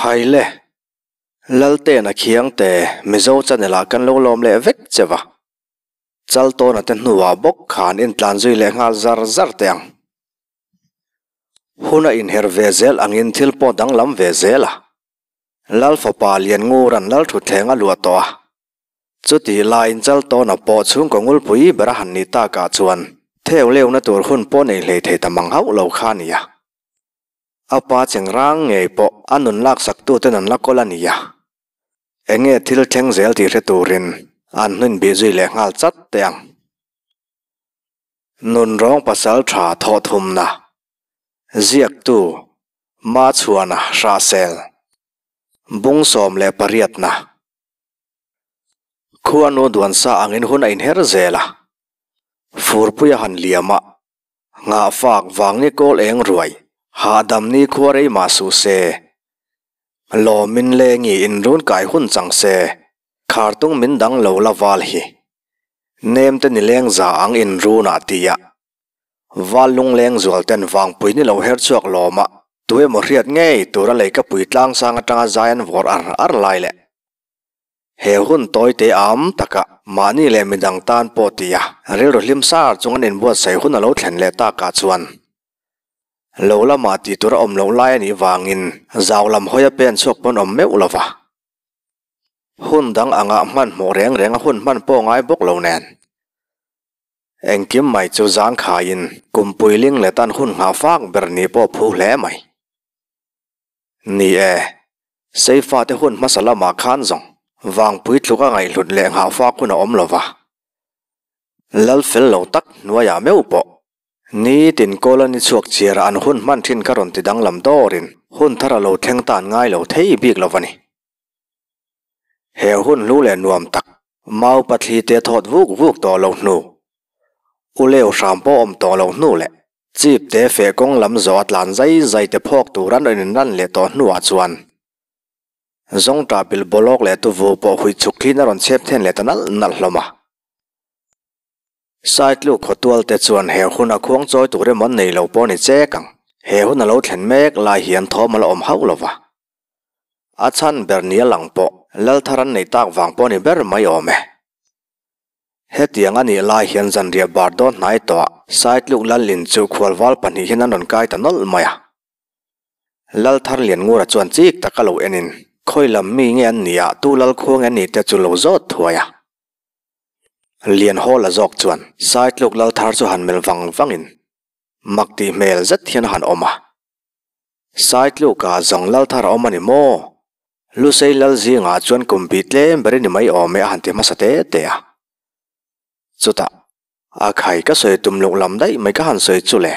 Khaile! Laltena khiang te Mizo channelah kan lo lawm leh vek che va. Chal tawna te hnuah bawk kha an intlan zui leh nghal zar zar teh ang. Hun a inher ve zel angin thil pawh danglam ve zel a. Lal fapa Lianngu ran lal thutthleng a luah tawh a. Chutih laiin Chal tawna pawh chhungkaw ngulpui ber a han ni takah chuan theu leuna tur hun pawh nei hlei thei ta mang hauh lo kha a ni a. A pa chengrang ngei pawh a nun laksaktuten an la kawl a nia. Eng nge thil thleng zel tih hre turin an hminbih zui leh nghal chat teh ang. Nun rawng pasal tha thawhthumna, ziaktu, ma chhuahna, hrahsel, bung sawm leh pariatna, khuanu duansa angin hun a inher zel a, furpuia han liam a, Nghah fak vang ni kawl eng ruai, hah dam ni khua rei mah suh se. Lawm min le ngi in run kai hun chang se, khar tung min dang lo la val hi. Nem te ni leng za ang in run ah ti ah. Val lung leng zual ten vang pui ni lo her chhuak lawm ah tu emaw hriat ngei tura lei ka pui tlang sang atang a zai an vawr ar ar lai leh. He hun tawi te âwm taka mahni leh midang tân pawh ti a rilru hlim sâr chung an inbuatsaih hun a lo thlen leh tâkah chuan lo lama tih tur a awm loh lai a nih vângin zau lam hawia pên chhuak pawn awm meuh lo va. Hun dang angah hmanhmawh rêng rêng a hun hman pawh ngai bawk lo nen engkim mai chu zângkhâiin kum puiling leh tân hun nghah fâk ber ni pawh phu hle mai. Ni e, Seifaate hun hmasa lamah khan zawng vangpui tluka ngaihhlut leh nghahfak hun a awm lo va, lal fel lo tak hnuaiah meuh pawh nitin colony chhuak chhiara an hun hman thin kha rawn ti danglam dawrin hun thar a lo thleng tan ngai lo thei bik lo va ni. He hun hlu leh nuam tak. Mau pathli te thawt vuk vuk tawh lo hnu, U Leo hram pawh awm tawh lo hnu leh Chip te feh kawng lam zawh a tlan zai zai te phawk tur an rawn inran leh tawh hnu ah chuan Zawngṭah bil bawlawk leh tuvu pawh huih chhuk tlin a rawn chep then leh ta nalh nalh hlawm a. Side luk khawtual te chuan he hun a khuang chawi tur emaw nei lo pawh a ni chek ang. He hun a lo thlen mek lai hian thawmala awm hauh lo va. a chhan ber nia lang pawh lal thar an nei tak vang pawh a ni ber mai awm e. Hetiang a nih lai hian zanriah bar dawn hnai tawha saitluk lal in chu khualval pahnih hian an rawn kai ta nawlh mai a. Lal thar lian ngura chuan chik tak a lo en in, khawi lam mi nge an nih a, tu lal khua nge an nih te chu lo zawt thuai a. Lian haw la zawk chuan saitluk lal thar chu han melh vang vang in mak tih hmel zet hian a han awm a. Sai tlukah zawng lal thar a awm a ni maw? Lusei lal zingah chuan kum pi tlem ber i ni mai awm e a han ti hmasa te te a. Chutah, A khai ka sawi tum loh lam daih mai ka han sawi chu le,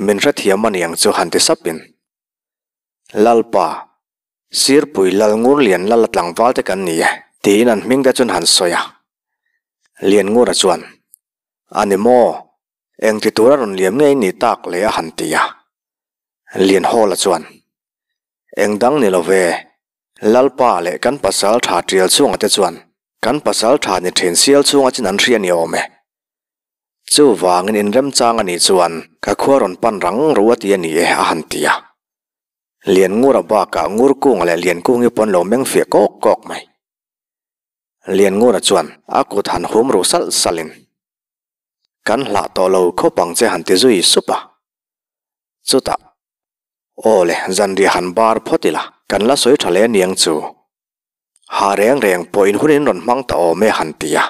min hrethiam a ni ang chu han ti sap in. Lalpa, Sirpui lal ngur lian lala tlangval te kan ni e, tiin an hming te chuan han sawi a. Lian ngura chuan, A ni maw? Engti tur a rawn liam ngei ni tak leh a han ti a, Lianhawla chuan, Eng dang ni lo ve, Lalpa leh kan pasal tha tial chunga te chuan kan pasal tha ni thin sial chunga chin an hria a ni awm e. Chuvangin in remchang a nih chuan ka khua rawn pan rang ru a ti a ni e a han ti a. Lianngura bakah Ngurkunga leh Liankung hi pawn lo meng fiah kawk kawk mai. Lianngura chuan a kut han hum ru salh salhin. kan hlah tawh lo khawp ang che han ti zui sup a, chutah aw le zanriah han bar phawt ila, kan la sawi tha le aniang chu, hah reng reng pawh inhunin rawn hmang ta awm e han ti a,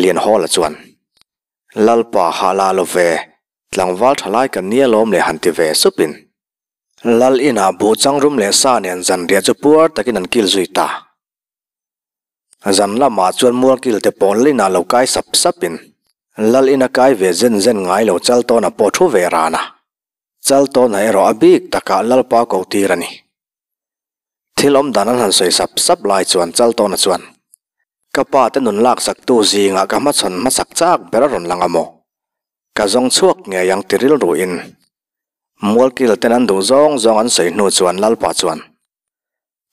Lianhawla chuan Lalpa hah la lo ve, tlangval tha lai kan nia lawm le han ti ve sup in, Lal inah buh changrum leh sa nen zanriah chu puar takin an kil zui ta, Zan lamah chuan mualkil te pawn lin ah lo kai sap sap in Lal in a kai ve zen zen ngai lo chal tawn a pawh thu ve ran a. Chal tawn ah erawh a bik tak ah Lal pa ko tir a ni. Thil awm dan an han sawi sap sap lai chuan chal tawn a chuan Ka pa te nun lak sak tu zing ah ka hma chhawn hma chak chak ber a rawn lang a maw? Ka zawng chhuak ngei ang ti rilru in mualkil ten an duh zawng zawng an sawi hnu chuan Lal pa chuan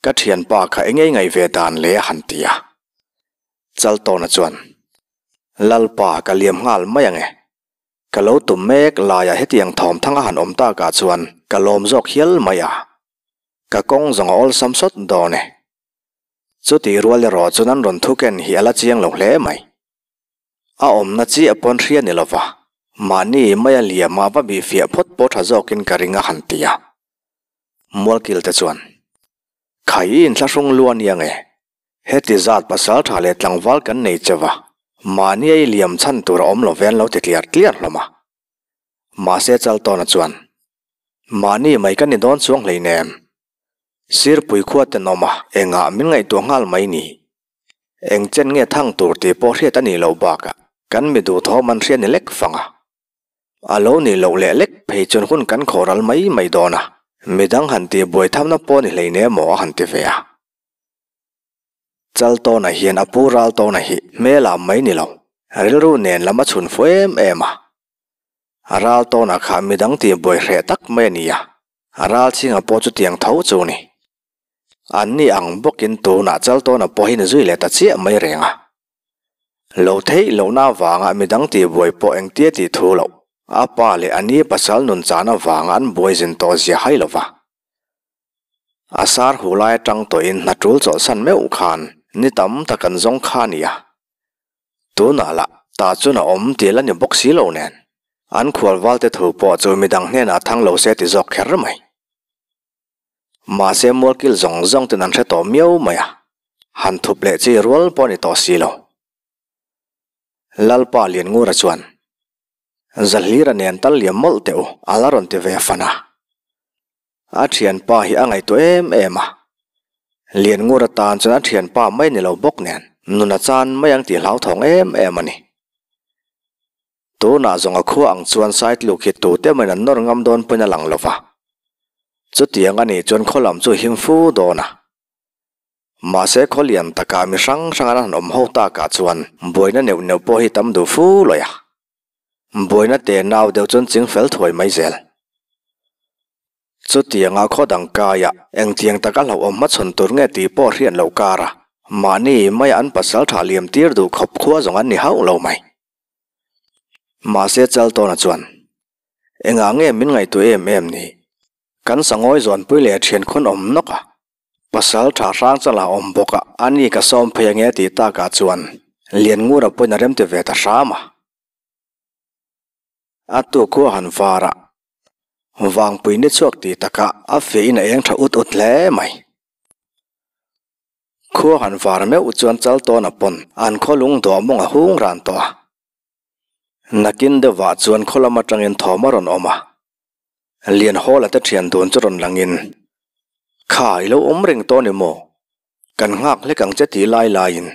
Ka thianpa kha engei ngaih ve dan le a han ti a, Chaltawna chuan, Lalpa ka liam nghal mai ange, ka lo tum mek laiah hetiang thawmthanga han awm takah chuan ka lawm zawk hial mai a, ka kawng zawng a awlsam sawt dawn e. Chutih rual erawh chu nan rawn thu ken hi a la chiang lo hle mai. A awmna chiah pawn hria ni lo va, mahni maia liama va bihfiah phawt pawh tha zawkin ka ring a han ti a, Mualkil te chuan, Khai i inthlahrung lu a nia nge? Heti zat pasal tha leh tlangval kan nei che va, mahnia i liam chhan tur a awm lo ve an lo ti tliar tliar hlawm a. Mahse Chaltawna chuan, Mahni mai ka ni dawn chuang hlein em? Sirpui khua tenawma engah min ngaihtuah nghal mai ni? Engchen nge thang tur tih pawh hriat a nih loh bakah kan mi duhthawm an hria ni lek fang a. A lo nih loh leh lek phei chuan hun kan khawh ral mai mai dawn a, midang han tih buai thamna pawh a ni hleine maw a han ti ve a. Chal tawnah hian a pu ral tawn a hih hmel a mai ni lo, rilru nen lam a chhun fo em em a. A ral tawnah kha midang tih buai hreh tak mai a ni a, a ral chhingah pawh chutiang tho chu a ni. An ni ang bawkin tunah chal tawnah pawhin zui leh ta chiah mai reng a. Lo theih lohna vanga midang tihbuai pawh engtia tih thu loh. A pa leh a ni pasal nun chahna vanga an buai zin tawh zia hai lo va. A sar huh lai atang tawhin hna tul chawlhsan meuh khan ni tam tak an zawng kha a ni a. Tunah lah tahchun a awm tih la ni bawk si lo nen, an khualvalte thu pawh chu midang hnenah thang lo se ti zawk kher mai. Mahse mualkil zawng zawng ten an hre tawh miau mai a, han thup leh chi rual pawh a ni tawh si lo. Lalpa Lianngura chuan, Zahlira nen tal liam mawlh teh u, a la rawn ti ve fan a. A thianpa hi a ngaihtuah em em a. Lianngura tan chuan a thianpa mai ni lo bawk nen nun a chan mai ang tih hlauthawng em em a ni. Tunah zawnga khua ang chuan sai tluk hi tute mawin an nawr ngam dawn pawhin a lang lo va. Chutiang a nih chuan khaw lam chu a him fu dawn a. Mahse khaw lian takah mi hrang hrang an han awm ho takah chuan buaina neuh neuh pawh hi tam duh fu lawih a. Buaina te nau deuh chuan ching fel thuai mai zel. Chutianga khaw dang kaia engtiang taka hlauhawm hmachhawn tur nge tih pawh a hriat loh kar a. Mahni maiah an pasal tha liam tir duh khawp khua zawng an ni hauh lo mai. Mahse Chaltawna chuan, Engah nge min ngaihtuah em em ni? Kan sangawi zawnpui leh thian khawn awm nawk a, pasal tha hrang chala awm bawk a, a ni ka sawm phei ange tih takah chuan Lianngura pawhin a rem ti ve ta hram a. A tu khuahan vara vangpui ni chhuak tih takah a feh in a eng tha ut ut hle mai. Khua han var meuh chuan chal tawn a pawn. An khaw lung duahmawng a hung ran tawh a. Nakin deuhvah chuan khaw lam atangin thawm a rawn awm a. Lian hawla te thian dun chu rawn langin, Kha i lo awm reng tawn emaw? Kan nghak hlek ang che ti lai laiin,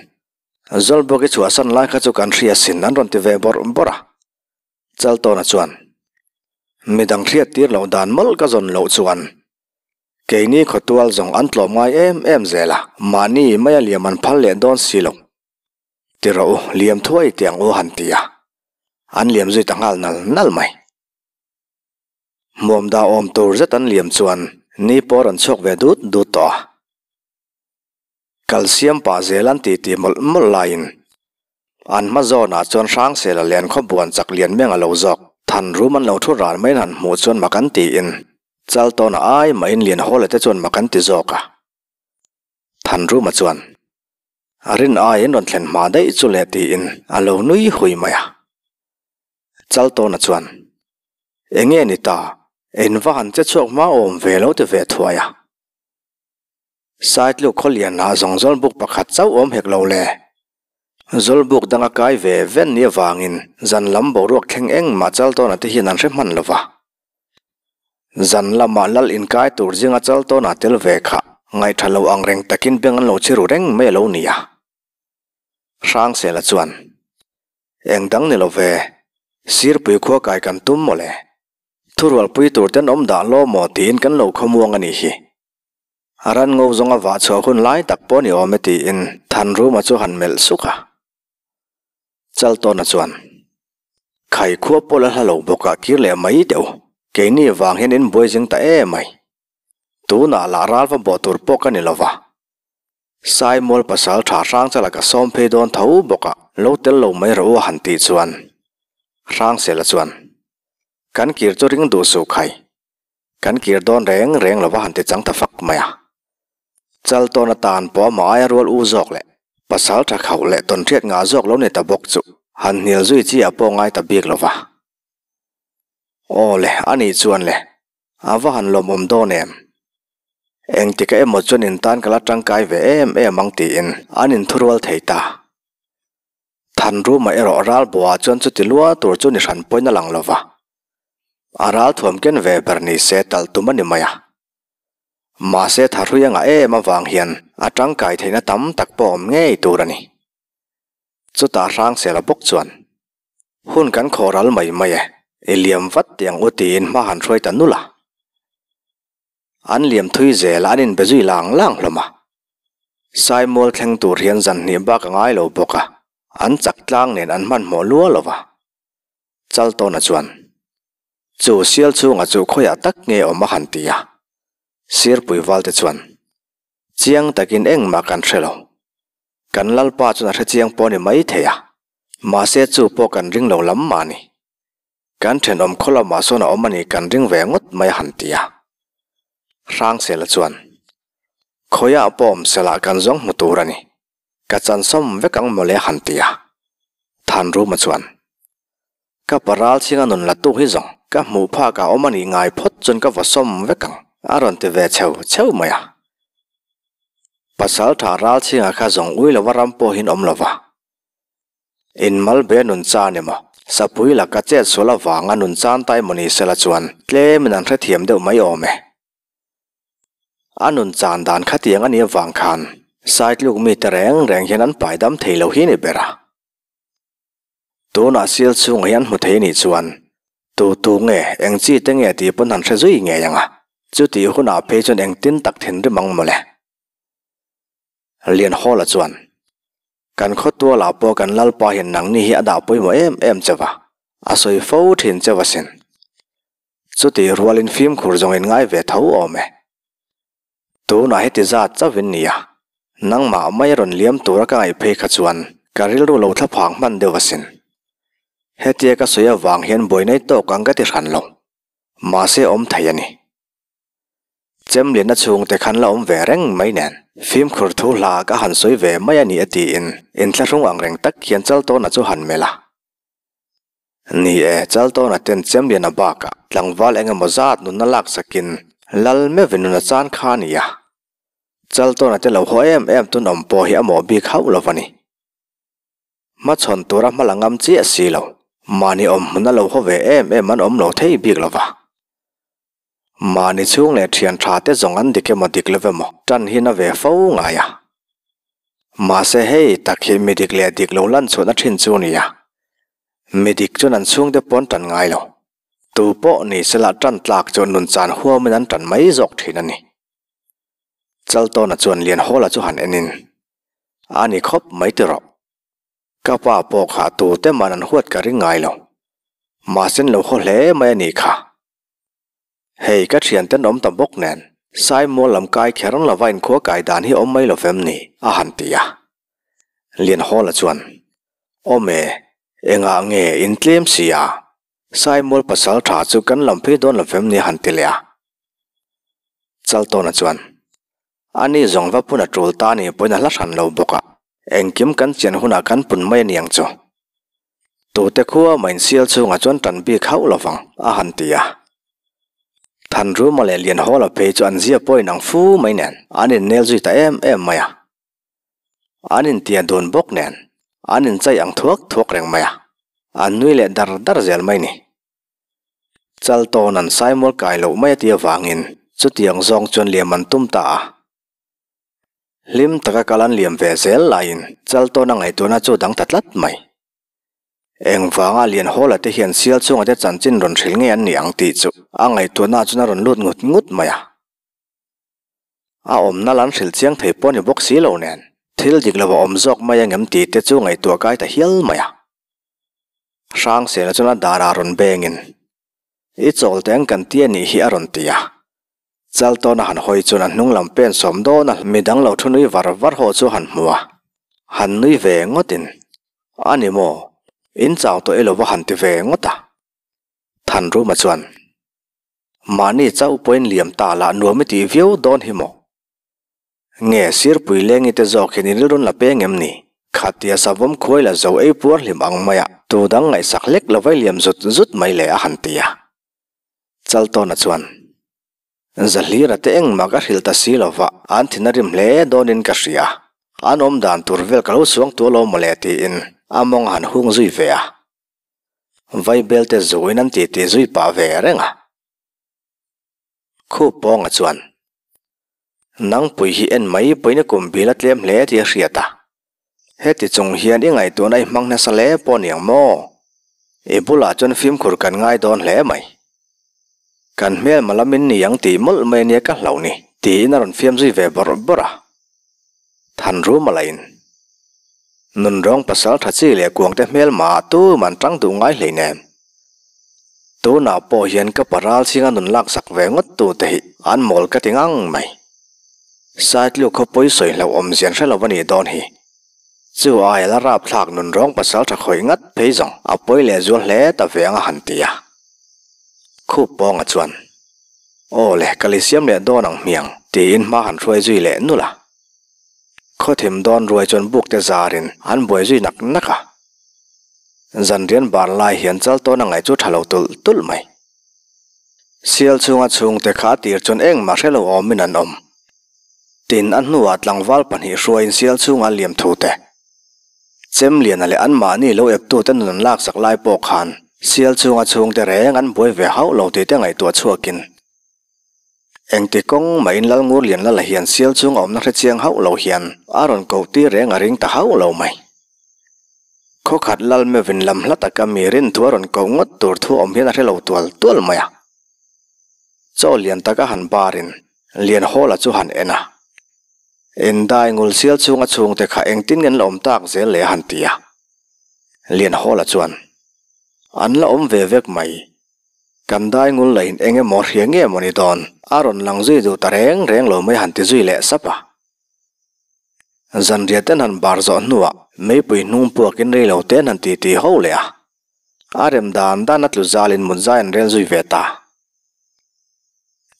Zawlbawk i chhuahsan lai kha chu kan hria sin an rawn ti ve bawrh bawrh a. Chaltawna chuan, Mi dang hliat tir loh dan mawlh ka zawn loh chuan keini khawtual zawng an tlawm ngai em em zel a, mahni maia liam an phal leh dawn si lo ti rawh u, liam thuai tiang u han ti a, an liam zui ta nghal nal nal mai. Hmuam dah awm tur zet an liam chuan ni pawl rawn chhuak ve dut dut tawh a. Kalsiam pah zel an ti ti mawlh mawlh laiin an hma zawnah chuan hrang sela lian khaw buan chak lian miang a lo zawk. Than rum an lo thu ran maiin han hmuh chuan mak an tiin chal tawnah ai mahin lian haw lete chuan mak an ti zawk a. Than ruma chuan, A rin aiin rawn thlen hma daih chu le tiin a lo nui hui mai a. Chal tawna chuan, Enge ni ta, in va han che chhuak hma awm ve lo ti ve thuai a. Saitluk khaw lian ah zawng zawlbuk pakhat chauh awm hek lo le. Zawlbuk dang a kai ve ven ni avangin zan lam boruak thleng engmah chal tawnah te hian an hre hman lo va. Zan lamah lal in kai tur zinga chal tawnah tel ve kha ngaihṭha lo ang reng takin beng an lo chhi ru reng mai a lo ni a. Hrangsela chuan, Engdang ni lo ve, Sirpui khua kai kan tum maw le? Thurualpui tur ten awm dah law maw tiin kan lo khawmuang a nih hi. A ran ngo zawng a vah chhuah hun lai tak pawh ni awm e tiin Thanruma chu han melh suk a. Chaltawna chuan, Khai khua pawl a hla lo bawkah kir leh mai deuh, keini vang hian in buai zing ta emai. Tunah lah ralva bawh tur pawh ka ni lo va. Sai mual pasal tha hrang chala ka sawm phei dawn tho bawk a, lo tel lo mai rawh u a han tih chuan Hrangsela chuan, Kan kir chu ring duh suh khai, kan kir dawn reng reng lo va han ti chang ta fak mai a. Chal tawn atan pawh amah aia rual u zawk leh pasal tha khauh leh tawn hriat ngah zawk lo ni ta bawk chu han hnial zui chi a pawh ngai ta bik lo va. Aw le, a nih chuan le, A va han lawmawm dawn em? Engti ka emaw chuan in tan ka la tangkai ve em em ang tiin an in thurual thei ta. Thanruma erawh Ralbawa chuan chuti lual tur chu ni hran pawiin a lang lo va. A ral thuam ken ve ber ni se talh tum a ni mai a. Mahse tha hrui a ngah em avang hian a tangkai theihna tam tak pawh awm ngei tur a ni. Chutah hrang sela bawk chuan. hun kan khaw ral mai mai e, i liam vat tih ang u tiin hma han hruai ta nul a, an liam thui zel a, an inbe zui lang lang hlawm a, Saimawll thleng tur hian zan hnih bak a ngai lo bawk a, an chak tlang nen an hmanhmawh luau lo va, Chaltawna chuan, Chu sial chhungah chu khawiah tak nge awm a han ti a, Sirpuivalte chuan, Chiang takin engmah kan hre lo. Kan Lalpa chuan a hre chiang pawh a ni maithei a, mahse chu pawh kan ring lo lam mahni. Kan thenawm khaw lamah sawn a awm a nih kan ring ve ngawt mai a han ti a. Hrangsela chuan, Khawiah pawh awmselah kan zawng hmu tur a ni. Ka chansawm vek ang mawle han ti a, Thanruma chuan. Ka pa Ralthinga nun latu hi zawng ka hmuh phak a awm a nih ngai phawt chuan ka va sawm vek ang a rawn ti ve cheu cheu mai a. Pasalṭha Ralthinga kha zawng ui lova ram pawh hin awm lova. In Malbe nun chan emaw, Sapui laka chet sual avanga nun chan ta emaw ni sela chuan tlem in an hrethiam deuh mai awm e. a nun chan dan khatiang a nih avang khan saitluk mi te reng reng hian an paidam thei lo hi a ni ber a, tunah sial chhungah hi an hmu thei nih chuan tutu nge eng chi te nge tih pawn han hre zui ngei ang a, chutih hunah phei chuan engtin tak thinrim ang mawle. Lianhawla chuan, Kan khawtualah pawh kan lalpa hian nangni hi a dah pawimawh em em che va, a sawi fo thin che vasin. Chutih rualin fimkhur zawngin ngai ve tho awm e. Tunah hi ti zat chauh in nia, nangmah mai rawn liam tura ka ngaih phei kha chuan ka rilru lo thla phang hman deuh asin. Hetia ka sawi avang hian buai nei tawk ang ka ti hran lo, mahse awm thei a ni. Chemlinna chhungte khan la awm ve reng mai nen fimkhur thu hla ka han sawi ve mai a ni a tiin inthlahrung angreng tak hian Chaltawna chu han melh a, Ni e, Chaltawn a tent chem lian a bakah tlangval eng emaw zat nunna lak sakin lal meuh ve nun a chan kha a ni a. Chaltawn a tilo haw em em tun awm pawh hi a mawh bik hauh lo a ni. Hmachhawn tura hma la ngam chiah silo, mahni awm hmun a lo haw ve em em an awm lo thei bik lova. Mahni chhung leh thian tha te zawng an dik emaw dik lo ve maw? Tan hian a ve fo ngai a. Mahse hei tak hi mi dik leh dik lo lan chhuan a thin chu nia. Mi dik chuan an chhungte pawh an tan ngai lo. Tu pawh ni se lah tan tlak chu nun chan huam in an tan mai zawk thin a ni. Chaltawna chuan lian hawla chu han en in, A ni khawp mai ti rawh. Ka pa pawh kha tute man an huat ka ring ngai lo. Mahse an lo haw hle mai a ni kha. Hei, ka thianten awm ta bawk nen, Sai Mual lam kai kher lova inkhua kai dan hi awm mai lo fem ni? a han ti a. Lianhawla chuan, Awm e, engah nge in tlem si a, Sai Mual pasal tha chu kan lam phei dawn lo fem ni? a han ti leh a. Chaltawna chuan, A ni zawng va phun a tul ta ni pawhin a hla hran lo bawk a, engkim kan chian hunah kan pun mai aniang chu. Tute khuaa main sial chhungah chuan tan bik hauh lovang a han ti a. Thanruma leh Lianhawla phei chu an zia pawhin ang fu mai nen an innel zui ta em em mai a. An intia dun bawk nen an inchei ang thuak thuak reng mai a, an nui leh dar dar zel mai ni. Chal tawn an Saimawr kai loh mai a tia vangin chutiang zawng chuan liam an tum ta a. Hlim taka kal an liam ve zel laiin chal tawna ngaih tuna chu a dang ta tlat mai. Eng vanga lian hawla te hian sial chunga te chanchin rawn hrilh ngei an ni ang tih chu a ngaihtuahna ah chuan a rawn lut ngut ngut mai a. a awmna la an hril chiang thei pawh a ni bawk si lo nen, thil dik lova awm zawk mai ang em tihte chu ngaihtuah kai ta hial mai a. Hrangsela chuan a darah rawn bengin, I chawlte ang kan ti a nih hi a rawn ti a. Chal tawna han hawi chuan a hnung lam pen sawm dawn a, mi danglo thu nui var var ho chu han hmu a, han nui ve ngawtin, A ni maw, in chau tawh i lova han ti ve ngawt a. Thanruma chuan. Mahni chau pawhin liam ta lah nuam i tih viau dawn hi maw? Nge Sirpui Lengi te zawk hian i rilrun la peng em ni? Khatia savawm khuai la zo ei puarhlim ang mai a, tu dang ngaihsak lek lo vai liam zut zut mai leh a han ti a. Chaltawna chuan, Zahlira te engmah ka hrilh ta si lova, an thin a rim hle dawn in ka hria. An awm dan tur vel ka lo suangtuah lo mawle tiin a mawng a han hung zui ve a. Vai belte zuin an titi zui pah ve reng a. Khup pawnga chuan, Nangpui hi en mai pawhin i kum bila tlem hle tih a hriat a, heti chung hian i ngaihtuahna i hmang nasa le pawh aniang maw? I bulah chuan fimkhur kan ngai dawn hle mai. Kan hmel mala min ni ang tih mawlh mai ania ka hlauh ni, tiin a rawn fiam zui ve bawrh bawrh a. Thanru malahin nun rawng pasal tha chi leh kuangte hmel maah tum an tang duh ngai hlei nem. Tunah pawh hian ka pa ralchinga nun lak sak ve ngawt tu te hi an mawl ka ti ngang mai. Saitluk khaw pawi sawi hlauh awmzian hre lo a nih dawn hi. Chu aia la rap thlak nun rawng pasal tha khawih ngat phei zawng a pawi leh zual hle ta ve ang a han ti a. Khup pawnga chuan, Aw le, ka lisiam leh dawn ang hmiang, tiin hma han hruai zui leh nulh a. Khawthim dawn ruai chuan bukte zarin an buai zui nak nak a. Zanrian bar lai hian chal tawn a ngaih chu tha lo tulh tulh mai. Sial chhunga chhungte kha a tir chuan eng mahre lo awmin an awm. Tin, a hnuah tlangval pahnih hruaiin sial chhunga liamthute, chemliana leh anmahni lo ektute nun an laksak lai pawh khan sial chhunga chhungte reng an buai ve hauh lo tihte ngaihtuah chhuakin Engti kawng mahin lal ngur lian lala hian sial chhung a awmna hre chiang hauh lo hian a rawn koh tir reng a ring ta hauh lo mai. Khaw khat lal mevin lam hla tak a mi rin thu a rawn koh ngawt tur thu a awm hian a hre lo tual tual mai a. Chaw lian tak a han bar in lian hawl a chu han en a. Indai ngul sial chhung a chhung te kha engtin ngen la awm tak zel le a han ti a. Lian hawl a chuan, An la awm ve vek mai, Kan dai ngul la in eng emaw hria nge maw ni dawn a rawn lang zui duh ta reng reng lo mai han ti zui leh sap a. Zanriate hnan bar zawh hnuah meipui hnung puak in rei lo te hnan ti ti ho leh a. A rem dan dan a tlu zal in mut zai an rel zui ve ta.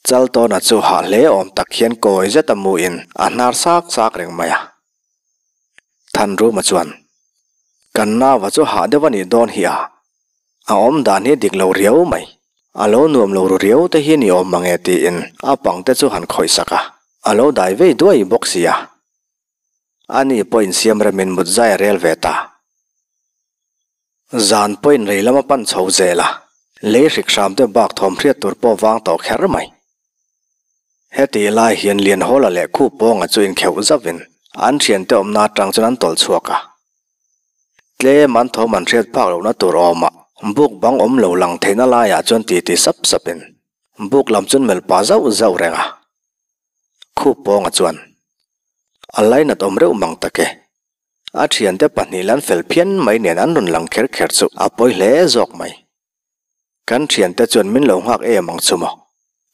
Chaltawna chu hah hle awm tak hian kawi zet a mu in a hnar sak sak reng mai a. Thanruma chuan, Kan nava chu hah deuh a nih dawn hi a, a awmdan hi dik lo riau mai, a lo nuam lo ru riau te hi ni awm mang e tiin a pang te chu han khawihsak a, a lo dai vei duai bawk sia. Ani pawhin siam remin mut zai a rel ve ta. Zan pawhin rei lama pan chho zel a, lei hrik hram te bak thawm hriat tur pawh vang tawh kher mai. Hetih lai hian Lianhawla leh Khu Pawnga chu inkheuh zavin an thian te awmna atang chuan an tawlh chhuak a. Tlem an thawm an hriat phak lohna tur awmah buk bang awm lo lang theihna laiah chuan titi sap sapin buk lam chuan melh pah zauh zauh reng a. Khu Pawnga chuan, A lainat awm reuh mang tak e, A thiante pahnih la an fel phian mai nen an rawn lang kher kher chu a pawi hle zawk mai. Kan thiante chuan min lo nghak em ang chu maw?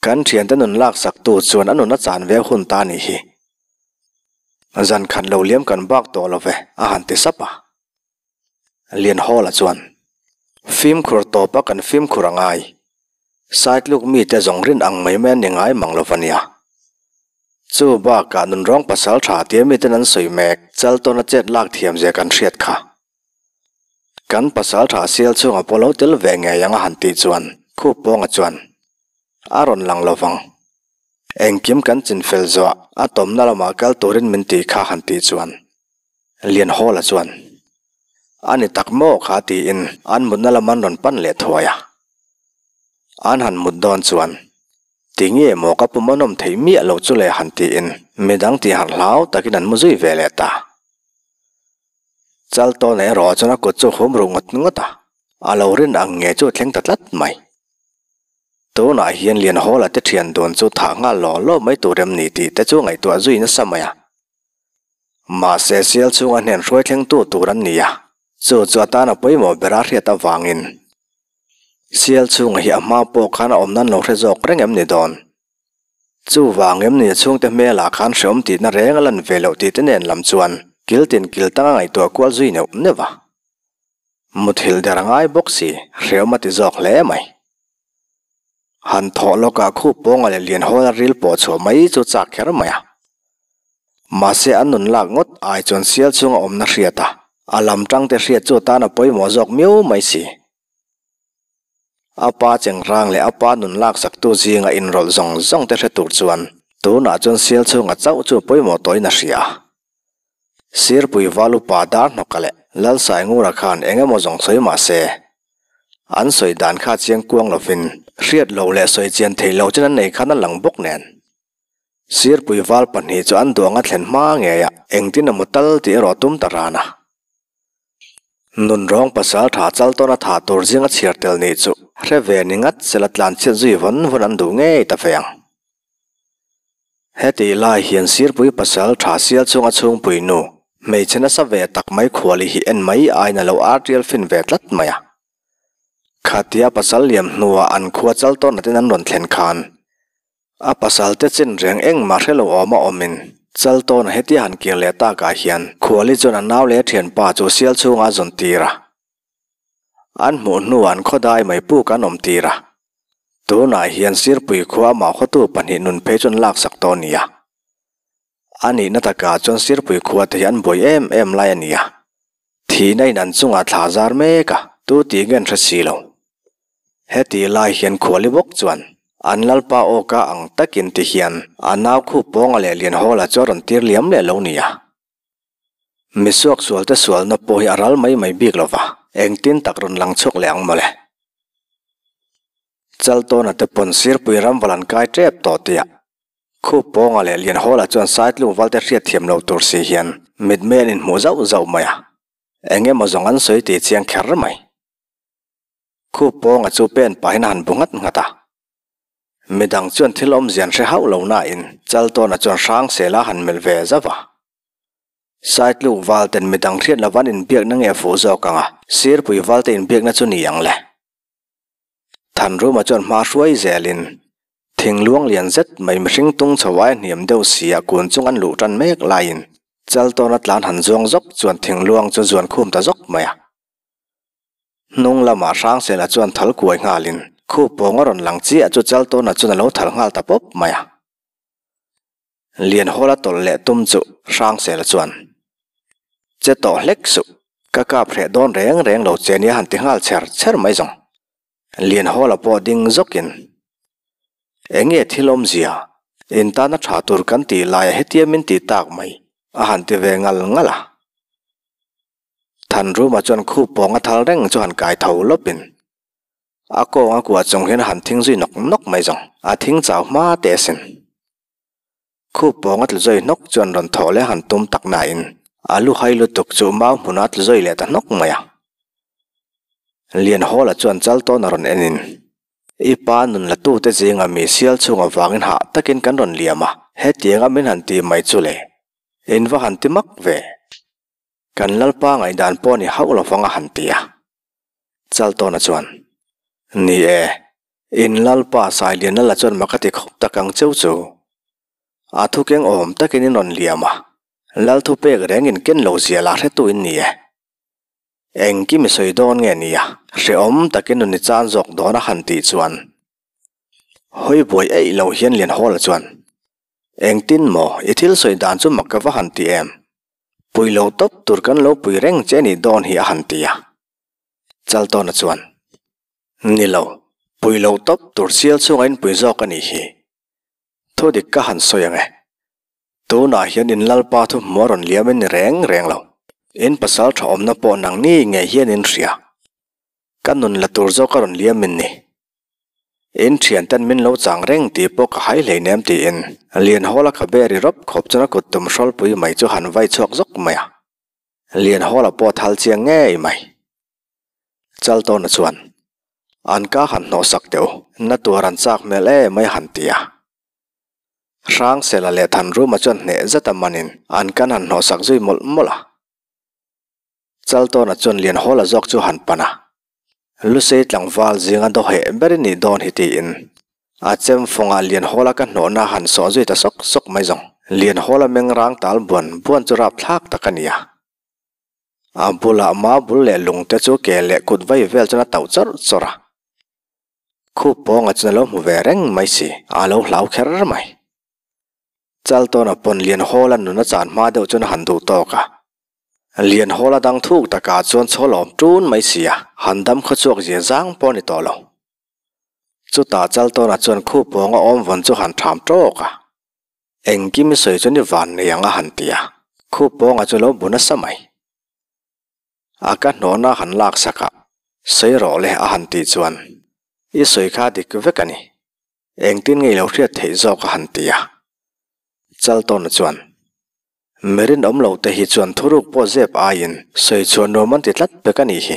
Kan thiante nun lak sak tu chuan a nun a chan viau hun ta ni hi. Zan khat lo liam kan bak tawh lo ve, a han ti sap a. Lianhawla chuan, Fimkhur tawpa kan fimkhur a ngai. Side luk mite zawng rin ang mai mai a ni ngai mang lo va nia. Chu bakah nun rawng pasal tha tia miten an sawi mek chal tawn a chet lak thiam zia kan hriat kha. Kan pasal tha sial chhunga pawh lo tel ve ngei ang a han tih chuan khup pawnga chuan a rawn lang lo vang. Engkim kan chin fel zuah a tawmna lamah kal turin min ti kha han tih chuan Lianhawla chuan, A ni tak maw kha tiin an mutna lam an rawn pan leh thuai a. An han mut dawn chuan, Tinge maw ka pum a nawm thei miah lo chu le han tiin midang tihharh hlau takin an mu zui ve leh ta. Chal tawn erawh chuan a kut chu hum ruh ngawt ngawt a, a lo rin ang nge chu thleng ta tlat mai. Tunah hian Lianhawla te thian dun chu thah nghal law law mai tur em ni tih te chu ngaihtuah zui nasa mai a. Mahse sial chhunga hnen hruai thlengtu tur an ni a, chu chu a tana pawimawh bera hriat avangin sial chhunga hi a hma pawh khan a awmna an lo hre zawk reng em ni dawn? Chuvang em ni a chhungte hmelah khan hrehawm tihna reng a lan ve loh tihte nen lam chuan kiltin kiltang a ngaihtuah kual zui neuh neuh a, muthilh der a ngai bawk si hrehawm a ti zawk hle mai. han thawh lawkah khup pawnga leh lian hawla ril pawh chhuah mai chu chak kher mai a, mahse an nun lak ngawt ai chuan sial chhunga awmna hriat a, a lam tangte hriat chu atan a pawimawh zawk miau mai si. A pa chengrang leh a pa nun lak saktu zinga inrawlh zawng zawngte hre tur chuan tunah chuan sial chhunga chauh chu pawimawh tawhin a hria a. Sirpui Valupa Darhnawka leh Lalsaingur-a khan eng emaw zawng sawi mah se, an sawi dan kha chiang kuang lovin hriat lo leh sawi chian thei lo chin an nei khan a lang bawk nen. Sirpui Val pahnih chu an duang a thlen hma ngei a, engtin a mu tal tih erawh a tum ta ran a. Nun rawng pasal tha chal tawn a thah tur zing a chhiar tel nih chu hre ve ni ngat sela tlanchhiat zui vawn vawn an duh ngei ta ve ang. Heti lai hian Sirpui pasal tha sial chung a chhungpui nu, hmeichhe nasa ve tak mai Khuali hi en mai aina lo ar tial fin ve tlat mai a. Khatia pasal liam hnuah an khua chal tawn natin an rawn thlen khan a pasalte chinreng engmah hre lo awm a awmin chal tawn a hetia han kir leh takah hian Khuali chuan a nau leh a thianpa chu sial chhunga a zawn tir a. An hmuh hnuah an khawdai mai pûk an awm tir a, tûnah hian Sirpui khua amah khawtu pahnih nun phei chuan an laksak tawh a ni a. A nihna takah chuan Sirpui khuate hi an buai êm êm lai a ni a, thihna in an chungah thla zâr mêk a, tu tih nge an hre si lo. Hetih lai hian Khuali bawk chuan an lalpa âwka ang takin tihian a nau khûp pawng a leh lian hâwla chu a rawn tîr liam leh lo nia. Misuak sualte sualna pawh hi a ral mai mai bik lo va, engtin tak rawn lang chhuak leh ang mawle. Chaltawna te pawn Sirpui ram va lan kai tep tawh tia khup pawnga leh lian hawla chuan saitlung valte hriat thiam lo tur si hian mitmeh an inhmuh zauh zauh mai a, eng emaw zawng an sawi tih a chiang kher mai. Khup pawnga chu pen pahin a han bu nghat nghat a. Midang chuan thil awmzian hre hauh lo nain chal tawna chuan hrang sela han melh ve zauh a. Saitluk Valten midang hriat lova an inbiakna nge a fuh zawk ang a, Sirpui Valte inbiakna chu ni ang le. Thanruma chuan hma hruai zelin thingluang lian zet mai mihring tung chho aia hniam deuh siah kun chung an luh tan mek laiin chal tawna tlan han zuang zawk chuan thingluang chu zuan khum ta zawk mai a. Hnung lamah Hrangsena chuan thal kuai nghalin khup pawng a rawn lang chiah chu Chaltawna chuan a lo thal nghal ta pawp mai a. Lianhawl a tawlh leh tum chu Hrangsena chuan, Che tawh hlek suh, ka kap hreh dawn reng reng lo che nia han ti nghal chher chher mai zawng. Lianhawl a pawh ding zawkin, Enge thil awmzia in tana tha tur kan tih laiah hetia min ti tak mai? a han ti ve ngal ngal a. than rum ah chuan khup pawng a thal reng chu han kai tho lawp in a kawng a kuah chung hian han thing zui nawk nawk mai zawng a thing chau hma teh a sin. Khup pawng a tlu zawih hnawk chuan rawn thawh leh han tum tak na in a lu hai lutuk chu mau hmun a tlu zawih leh ta hnawk mai a. Lian hawl ah chuan chal tawn a rawn en in i pa nun la tu te zing a mi sial chhung ah vang in hah tak in kan rawn liam a hetiang a min han ti mai chu le in va han ti mak ve. Kan Lalpa ngaihdan pawh ni hauh lo vang a han ti a. Chaltawna chuan, Ni e, in Lalpa Sailiana la chuan maka ti khawp tak ang cheu chu. A thukeng awm takin in rawn liam a, Lalthu pek rengin ken lo zia la hretu in ni e. Engkim i sawi dawn nge nia, hrehawm takin nun i chan zawk dawn a han tih chuan, hawi buai eih lo hian lian haw la chuan, Engtin maw i thil sawi dan chu mak ka va han ti em? Pui lo tawp tur kan lo pui reng che ni dawn hi a han ti a. Chaltawna chuan, Ni lo, pui lo tawp tur chial chhunga in pui zawk a nih hi. Thudik ka han sawi ang e. Tunah hian in lalpa thu hmu a rawn liam in ni reng reng lo. In pasal tha awmna pawh nang ni ngei hian in hria. Ka nun la tur zawk a rawn liam min ni. In thian ten min lo chang reng tih pawh ka hai hleinem tiin Lianhawl a ka be ri rawp khawp chuan a kut tum hrawlpui mai chu han vai chhuak zawk mai a. Lianhawl a pawt hal chiang ngei mai. Chal tawna chuan, An ka han hnawh sak teh u, na tuar an chak hmel e mai han ti a. Hrangsela leh Thanruma chuan hneh zeta manin an kan han hnawh sak zui mawlh mawlh a. Chal tawn a chawn lian hawla zawk chu han pan a, lu sei tlangval zinga do heh ber i nih dawn hi tiin a chem fawngah lian hawla ka hnawhna han sawh zui ta sawk sawk mai zawng. Lian hawla meng rang tal buan buan chu rap thlak tak a ni a, a bula ma bul leh lung te chu ke leh kut vai vel chuan a tauh chawr chawr a, khup pawnga chuan a lo hmu ve reng mai si, a lo hlau kher mai. Chal tawna pawn lian hawla nuna chan hma deuh chuan a han duh tawk a, lian hawla dang thuk taka chuan chho lawm tun mai si a, han dam khaw chhuak zia zang pawh a ni tawh lo. Chutah Chal tawna chuan khu pawng a awm vawn chu han tham tawk a, Engkimi sawi chuan i van nei ang a han ti a, khu pawnga chu lo bu nasa mai. A ka hnawhna han lak sakah, sawi rawh le a han tih chuan, I sawi kha dik vek a ni, Engtin ngei lo hriat theih zawk a han ti a, Chaltawna chuan, Mi rinawm lo te hi chuan thuruk pawh zep aiin sawi chhuah nuam an ti tlat bek a nih hi.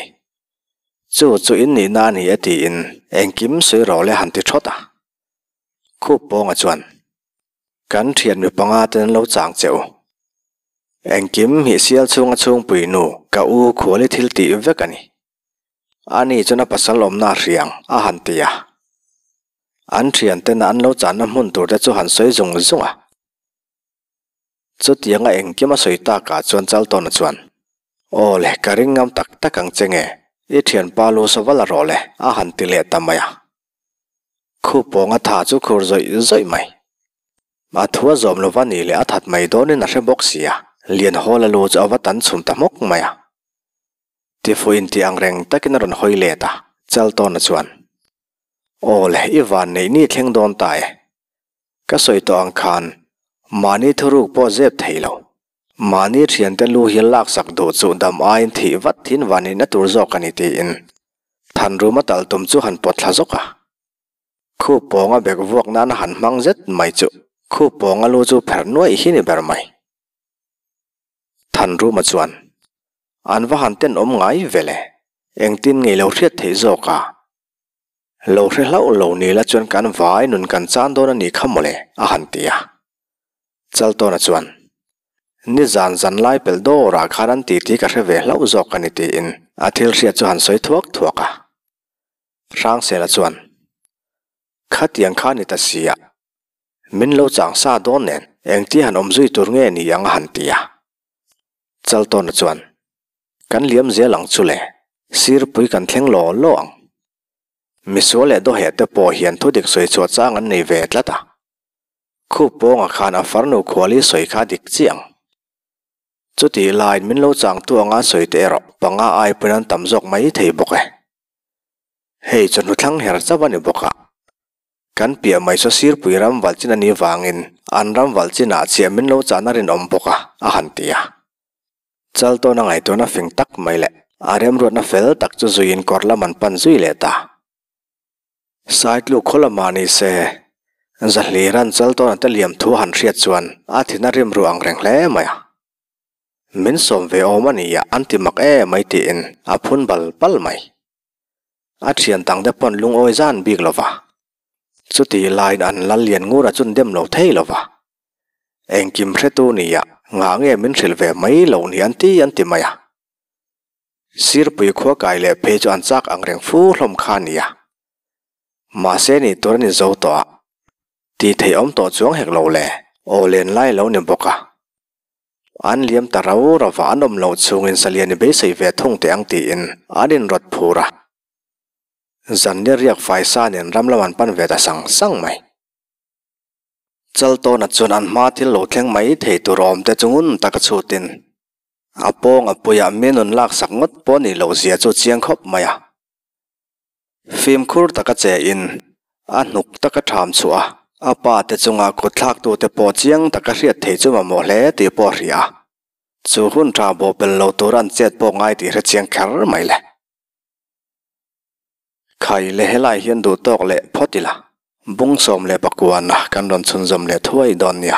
Chu chu in nihna a ni e tiin engkim sawi rawh le han ti thawt a. Khup Pawnga chuan, Kan hriat mi panga ten an lo chang che u. Engkim hmihsial chhunga chhungpui nu ka U Khuali thil tih vek a ni. Ani chuan a pasal awmna a hriang a han ti a, an thiantena an lo chahna hmun tur te chu han sawi zung zung a, chutiang a engkim a sawi tak ah chuan Chaltawna chuan, Aw le, ka ring ngam tak tak ang che nge, i thianpa lu saw vala rawh le a han ti leh ta mai a, khu pawnga tha chu khur zawih zawih mai, a thu a zawm lova ni le a that mai dawnin a hre bawk sia, Lianhawla lu chu a va tan chhum ta hmawk mai a. Tifu in tih ang reng takin a rawn hawi let a, Chaltawna chuan, Aw le, i van neih ni thleng dawn ta e, ka sawi tawh ang khan mahni thuruk pawh zep thei lo, mahni thiante lu hi lak sak duh chu dam aiin thih vat thin van neih na tur zawk a ni tiin than ruma tal tum chu han pawt thla zawk a, khup pawnga bag vuak nana han hmang zet mai chu khup pawnga lu chu pher nuaih hi ni ber mai. Than ruma chuan, an va han tenawm ngai vele, engtin ngeilo hriat theih zawk a, lo hre hlauh lo nila chuan kan vai nun kan chan dawn a ni kha mawle a han ti a. Chaltawna chuan, Ni zan zan lai pelh dawrah khan an titi ka hre ve hlauh zawk a ni tiin a thil hriat chu han sawi thuak thuak a. Hrangsela chuan, Khatiang kha ni ta si a, min lo chang sa dawn nen engtia han awm zui tur nge ni ang a han ti a. Chaltawna chuan, Kan liam zial ang chu le, sirpui kan thleng law law ang. Misual leh dawheh te pawh hian thudik sawi chhuah chang an nei ve tlat a. Khup pawnga khan a farnu khuali sawi kha dik chiah ang. Chutih lain min lo changtu anga sawi te erawh panga aipuiin an tam zawk mai thei bawk e. Hei chu hnuthlang her chauh a ni bawk a, Kan piah mai saw Sirpui ram valchin a nih vangin an ram valchinah chiah min lo chahna rinawm bawk a, a han ti a. Chal tawna ngai tuna fing tak mai leh a remruatna fel tak chu zuiin kawr lam an pan zui leh ta. Sai tluk khaw lamah ni se, Zahlira'n chal tawna te liam thu a han hriat chuan a thin a rimru ang reng hle mai a. Min sawm ve awm a nia an ti mak e mai tiin a phun bal bal mai. a thian dang te pawn lungawi zan bik lova chuti lain an lal lian ngur a chun dem lo thei lova engkim hretu nia nghah nge min hrilh ve mai lo nia an ti an ti mai a, Sirpui khua kai leh phei chu an chak ang reng fu hlawm kha ania mahse ni tur an inzo tawh a, tih theih awm tawh chuang hek lo le. Aw len lai lo ni bawk a. An liam ta rau rau a, an awm loh chungin Saliani beisei ve thung teh ang tiin an inrawt phur a. Zanni riak fai sanin ram lam an pan ve ta sang sang mai. Chaltawna chuan an hma thil lo thleng mai thei tur a awmte chu ngun taka chhutin a pawng a puiah mi nun laksak ngawt pawh nih loh zia chu a chiang khawp mai a. Fimkhur taka che in a hnuk taka tham chhuah a, a pa te chunga kutthlaktu te pawh chiang taka hriat thei chu mamawh hle tih pawh a hria a, chu hun tha bawhbel lo tura an chet pawh ngai tih hre chiang kher mai le. Khai le helai hian duh tawk leh phawt ila, bung sawm leh pakua na kan rawn chhunzawm leh thuai dawn nia.